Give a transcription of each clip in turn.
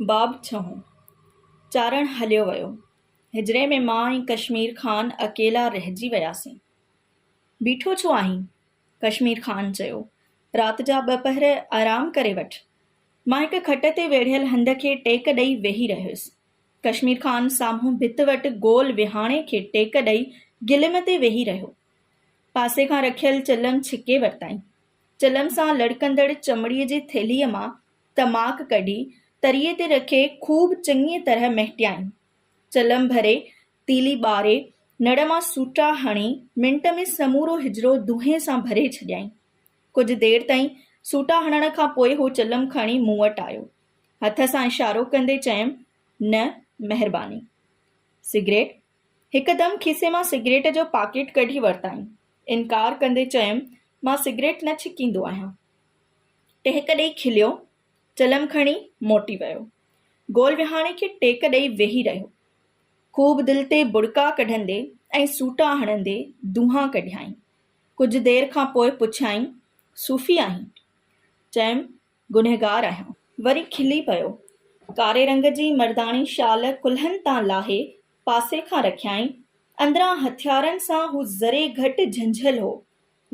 باب ڇهون، چارڻ هليو ويو. هجري ۾ مان ۽ ڪشمير خان اڪيلا رهجي وياسين. بيٺو ڇو آهين؟ ڪشمير خان چيو، رات جا ٻه پهر آرام ڪري وٺ. مان هڪ کٽ تي ويڙهيل هنڌ کي ٽيڪ ڏئي ويهي رهيس. ڪشمير خان سامهون ڀت وٽ گول وهاڻي کي ٽيڪ ڏئي گلم تي ويهي رهيو. پاسي کان رکيل چلم ڇڪي ورتائين. چلم سان لڙڪندڙ چمڙي جي ٿيلهيء مان تماڪ ڪڍي تريء تي رکي خوب چڱيء طرح مهٽيائين. چلم ڀري، تيلي ٻاري، نڙ مان سوٽا هڻي، منٽ ۾ سمورو حجرو دونهين سان ڀري ڇڏيائين. ڪجهه دير تائين سوٽا هڻڻ کان پوء هو چلم کڻي مون وٽ آيو. هٿ سان اشارو ڪندي چيم، نه، مهرباني. سگريٽ؟ هڪدم کيسي مان سگريٽ جو پاڪيٽ ڪڍي ورتائين. انڪار ڪندي چيم، مان سگريٽ نه ڇڪيندو آهيان. ٽهڪ ڏيئي کليو، چلم کڻي موٽي ويو. گول وهاڻي کي ٽيڪ ڏيئي ويهي رهيو. خوب دل تي ٻڙڪا ڪڍندي ۽ سوٽا هڻندي دونهان ڪڍيائين. ڪجهه دير کان پوء پڇيائين، صوفي آهين؟ چيم، گنهگار آهيان. وري کلي پيو. ڪاري رنگ جي مرداڻي شال ڪلهن تان لاهي پاسي کان رکيائين. اندران هٿيارن سان هو ذري گهٽ جهنجهيل هو.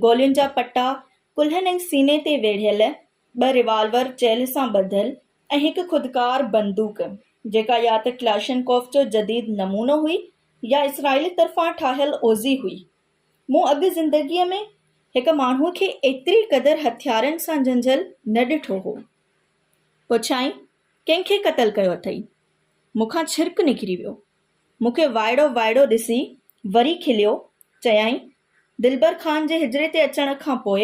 گولين جا پٽا ڪلهن ۽ سيني تي ويڙهيل، ٻه ريوالور چيلهه سان ٻڌل ۽ هڪ خودڪار بندوق، جيڪا يا ته ڪلاشنڪوف جو جديد نمونو هئي يا اسرائيل طرفان ٺاهيل اوزي هئي. مون اڳ زندگيء ۾ هڪ ماڻهوء کي ايتري قدر هٿيارن سان جنجهيل نه ڏٺو هو. پڇيائين، ڪنهن کي قتل ڪيو اٿئي؟ مون کان ڇرڪ نڪري ويو. مون کي وائڙو وائڙو ڏسي وري کليو چيائين، دلبر خان جي حجري تي اچڻ کان پوء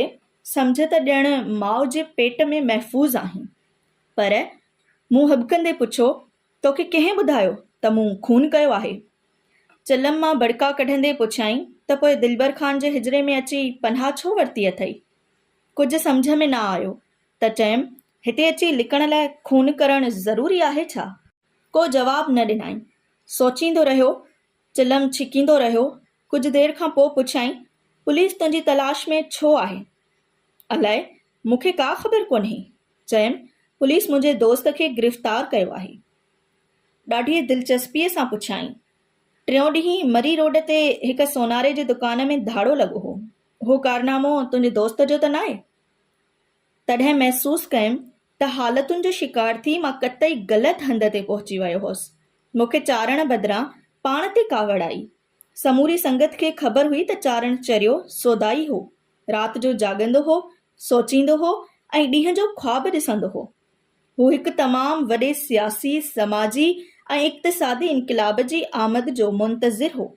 سمجهه ته ڄڻ ماء جي پيٽ ۾ محفوظ آهين. پر مون هٻڪندي پڇيو، توکي ڪنهن ٻڌايو ته مون خون ڪيو آهي؟ چلم مان ٻڙڪا ڪڍندي پڇيائين ته پوء دلبر خان جي حجري ۾ اچي پناهه ڇو ورتي اٿئي؟ ڪجهه سمجهه ۾ نه آيو ته چيم، هتي اچي لڪڻ لاء خون ڪرڻ ضروري آهي ڇا؟ ڪو جواب نه ڏنائين. سوچيندو رهيو چلم ڇڪيندو رهيو، ڪجهه دير کان پوء پڇيائين، پوليس تنهنجي تلاش ۾ ڇو آهي؟ الاء، مون کي ڪا خبر ڪونهي. چيم، پوليس منهنجي دوست کي گرفتار ڪيو آهي. ڏاڍيء دلچسپيء سان پڇيائين، ٽيون ڏينهن مري روڊ تي هڪ سوناري جي دڪان ۾ ڌاڙو لڳو هو، اهو ڪارنامو تنهنجي دوست جو ته ناهي؟ تڏهن محسوس ڪيم ته حالتن جو شڪار ٿي مان قطعي غلط هنڌ تي پهچي ويو هوس. مون کي چارڻ بدران پاڻ تي ڪاوڙ آئي. سموري سنگت کي خبر هئي ته چارڻ چريو سودائي هو. رات جو جاڳندو هو، سوچيندو هو ۽ ڏينهن جو خواب ڏسندو هو. هو هڪ تمام وڏي سياسي، سماجي ۽ اقتصادي انقلاب جي آمد جو منتظر هو.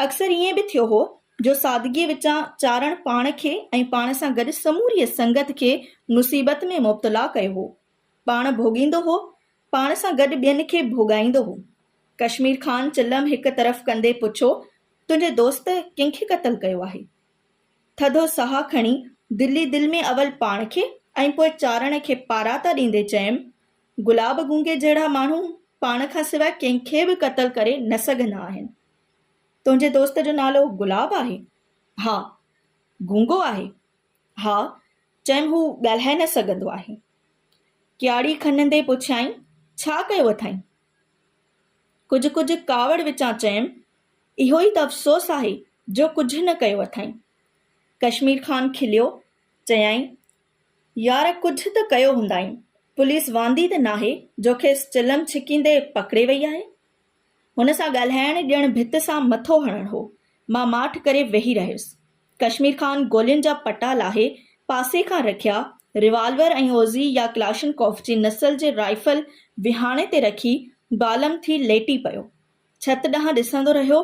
اڪثر ائين به ٿيو هو جو سادگيء وچان چارڻ پاڻ کي ۽ پاڻ سان گڏ سموريء سنگت کي مصيبت ۾ مبتلا ڪيو هو. پاڻ ڀوڳيندو هو، پاڻ سان گڏ ٻين کي ڀوڳائيندو هو. ڪشمير خان چلم هڪ طرف ڪندي پڇيو، تنهنجي دوست ڪنهن کي قتل ڪيو آهي؟ ٿڌو ساهه کڻي دل ئي دل ۾ اول پاڻ کي ۽ پوء چارڻ کي پاراتا ڏيندي چيم، گلاب گونگي جهڙا ماڻهو پاڻ کان سواء ڪنهن کي به قتل ڪري نه سگهندا آهن. تنهنجي دوست جو نالو گلاب آهي؟ ها. گونگو آهي؟ ها. چيم هو ڳالهائي نه سگهندو آهي. ڪياڙي کنندي پڇيائين، ڇا ڪيو اٿائين؟ ڪجهه ڪجهه ڪاوڙ وچان چيم، اهو ئي ته افسوس آهي جو ڪجهه نه ڪيو اٿائين. ڪشمير خان کليو، چيائين، يار ڪجهه ته ڪيو هوندائين، پوليس واندي ته ناهي جو کيس چلم ڇڪيندي پڪڙي وئي آهي. هن سان ڳالهائڻ ڄڻ ڀت سان مٿو هڻڻ هو. مان ماٺ ڪري ويهي رهيس. ڪشمير خان گولين جا پٽا لاهي پاسي کان رکيا، ريوالور ۽ اوزي يا ڪلاشنڪوف جي نسل جي رائفل وهاڻي تي رکي بالم ٿي ليٽي پيو. ڇت ڏانهن ڏسندو رهيو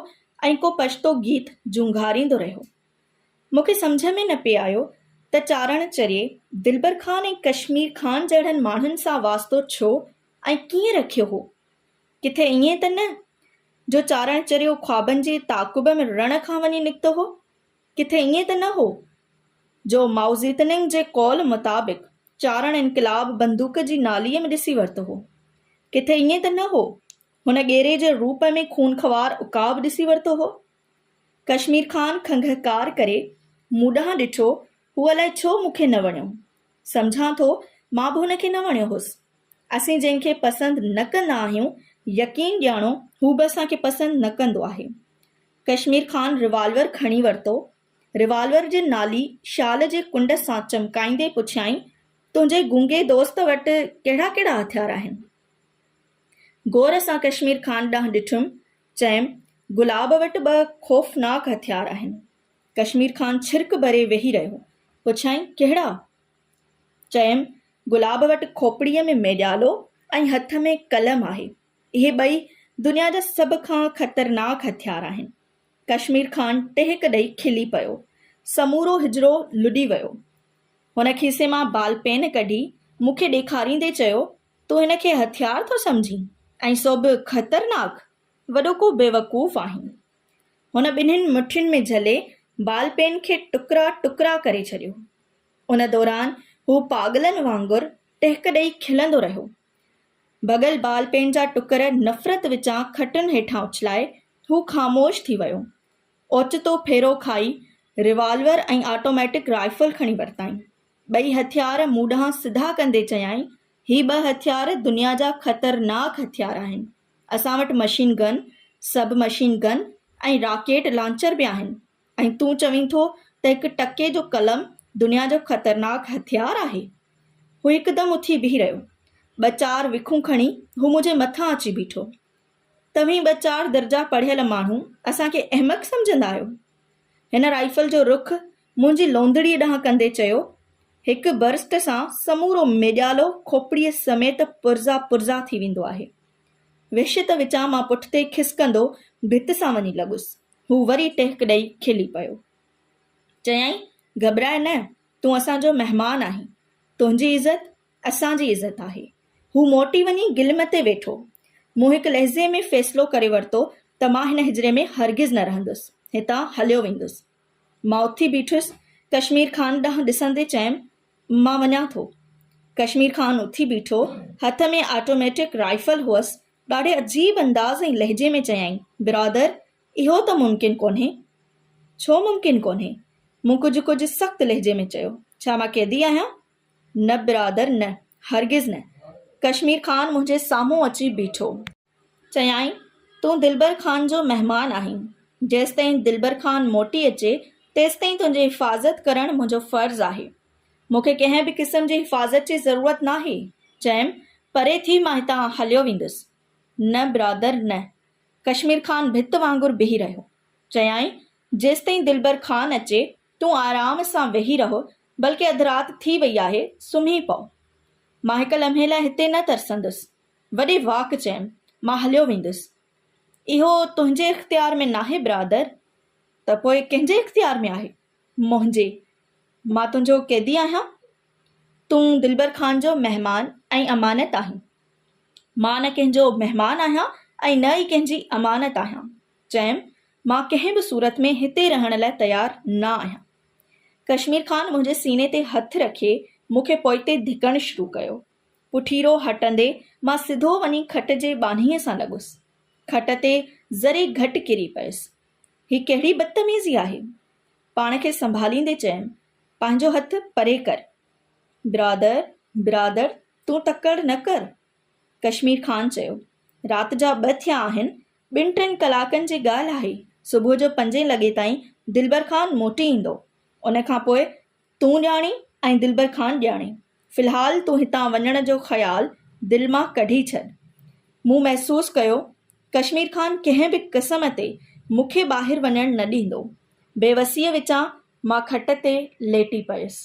۽ ڪو پشتو گيت جهونگاريندو رهيو. مون کي سمجهه ۾ نه پئي آيو ته چارڻ چريي دلبر خان ۽ ڪشمير خان جهڙن ماڻهن سان واسطو ڇو ۽ ڪيئن رکيو هو؟ ڪٿي ائين ته نه جو چارڻ چريو خوابن جي تعاقب ۾ رڻ کان وڃي نڪتو هو؟ ڪٿي ائين ته نه هو جو مائوزيتننگ جي قول مطابق چارڻ انقلاب بندوق جي ناليء ۾ ڏسي ورتو هو؟ ڪٿي ائين ته نه هو هن ڳيري جي روپ ۾ خونخوار عقاب ڏسي ورتو هو؟ ڪشمير خان کنگهڪار ڪري مون ڏانهن ڏٺو، هو الائي ڇو مون کي نه وڻيو. سمجهان ٿو مان به هن کي نه وڻيو هوس. اسين جنهن کي پسند نه ڪندا آهيون، يقين ڄاڻو هو به اسان کي پسند نه ڪندو آهي. ڪشمير خان روالور کڻي ورتو. روالور جي نالي شال جي ڪنڊ سان چمڪائيندي پڇيائين، تنهنجي گونگي دوست وٽ ڪهڙا ڪهڙا هٿيار آهن؟ غور سان ڪشمير خان ڏانهن ڏٺم چيم، گلاب وٽ ٻه خوفناڪ هٿيار آهن. ڪشمير خان ڇرڪ ڀري ويهي رهيو. پڇيائين، ڪهڙا؟ چيم، گلاب وٽ کوپڙيء ۾ ميڏيالو ۽ هٿ ۾ قلم آهي. اهي ٻئي دنيا جا سڀ کان خطرناڪ هٿيار آهن. ڪشمير خان ٽهڪ ڏئي کلي پيو. سمورو حجرو لڏي ويو. هن کيسي مان بال پين ڪڍي مون کي ڏيکاريندي چيو، تون هن کي هٿيار ٿو سمجهين ۽ سو به خطرناڪ؟ وڏو ڪو بيوقوف آهين. هن ٻنهين مٺين ۾ جهلي بال پين کي ٽڪرا ٽڪرا ڪري ڇڏيو. ان دوران هو پاڳلن وانگر ٽهڪ ڏئي کلندو رهيو. ڀڳل بال پين جا ٽڪر نفرت وچان کٽن هيٺان اڇلائي هو خاموش ٿي ويو. اوچتو ڦيرو کائي ريوالور ۽ آٽوميٽڪ رائفل کڻي ورتائين. ٻئي هٿيار مون ڏانهن سڌا ڪندي چيائين، هي ٻه هٿيار دنيا جا خطرناڪ هٿيار آهن. اسان وٽ machine gun, sub machine gun ۽ rocket launcher به آهن ۽ تون چوين ٿو ته هڪ ٽڪي جو قلم دنيا جو خطرناڪ هٿيار آهي؟ هو هڪدم اٿي بيهي رهيو. ٻه چار وکون کڻي هو منهنجي مٿان اچي بيٺو. توهين ٻه چار درجا پڙهيل ماڻهو اسان کي احمق سمجهندا آهيو؟ هن رائفل جو رخ منهنجي لوندڙيء ڏانهن ڪندي چيو. هڪ برسٽ سان سمورو ميڄالو کوپڙيء سميت پرزا پرزا ٿي ويندو آهي. وحشت وچان مان پٺتي کسڪندو ڀت سان وڃي لڳس. هو وري ٽهڪ ڏئي کلي پيو. چيائين، گهٻرائي نه، تون اسان جو مهمان آهين. تنهنجي عزت اسان جي عزت آهي. هو موٽي وڃي گلم تي ويٺو. مون هڪ لحظي ۾ فيصلو ڪري ورتو ته مان هن هجري ۾ هرگز نه رهندس. هتان هليو ويندس. مان اٿي بيٺس، ڪشمير خان ڏانهن ڏسندي چيم، مان وڃان ٿو. ڪشمير خان اٿي بيٺو، هٿ ۾ آٽوميٽڪ رائفل هئس، ڏاڍي عجيب انداز ۽ لهجي ۾ چيائين، برادر، اهو ته ممڪن ڪونهي. ڇو ممڪن ڪونهي؟ مون ڪجهه ڪجهه سخت لهجي ۾ چيو، ڇا مان قيدي آهيان؟ نه برادر نه، هرگز نه. ڪشمير خان منهنجي سامهون اچي بيٺو. چيائين، تون دلبر خان جو مهمان آهين، جيستائين دلبر خان موٽي اچي، تيستائين تنهنجي حفاظت ڪرڻ منهنجو فرض آهي. مون کي ڪنهن به قسم جي حفاظت جي ضرورت ناهي. چيم، پري ٿي مان هتان هليو ويندس. نه برادر نه. ڪشمير خان ڀت وانگر بيهي رهيو. چيائين، جيستائين دلبر خان اچي، تون آرام سان ويهي رهه، بلڪه اڌ رات ٿي وئي آهي، سمهي پئو. مان هڪ لمحي لاء هتي نه ترسندس. وڏي واڪ چيم، مان هليو ويندس. اهو تنهنجي اختيار ۾ ناهي برادر، ته پوء ڪنهن جي اختيار ۾ آهي؟ منهنجي. مان تنهنجو قيدي آهيان. تون دلبر خان جو مهمان ۽ امانت آهين. مان نه ڪنهن جو مهمان آهيان ۽ نه ئي ڪنهن جي امانت آهيان. چيم، مان ڪنهن به صورت ۾ هتي رهڻ لاء تيار نه آهيان. ڪشمير خان منهنجي سيني تي هٿ رکي مون کي پوئتي ڌڪڻ شروع ڪيو. پٺيرو هٽندي مان سڌو وڃي کٽ جي ٻانهيء سان لڳس. کٽ تي ذري گهٽ ڪري پيس. هي ڪهڙي بدتميزي آهي؟ پاڻ کي سنڀاليندي چيم، پنهنجو هٿ پري ڪر. برادر، برادر، تون تڪڙ نه ڪر. ڪشمير خان چيو، رات جا ٻه ٿيا آهن، ٻن ٽن ڪلاڪن جي ڳالهه آهي، صبح جو پنجين لڳي تائين دلبر خان موٽي ايندو، ان کان پوء تون ڄاڻين ۽ دلبر خان ڄاڻي، في الحال تون هتان وڃڻ جو خيال دل مان ڪڍي ڇڏ. مون محسوس ڪيو ڪشمير خان ڪنهن به قسم تي مون کي ٻاهر وڃڻ نه ڏيندو. بيوسيء وچان مان کٽ تي ليٽي پيس.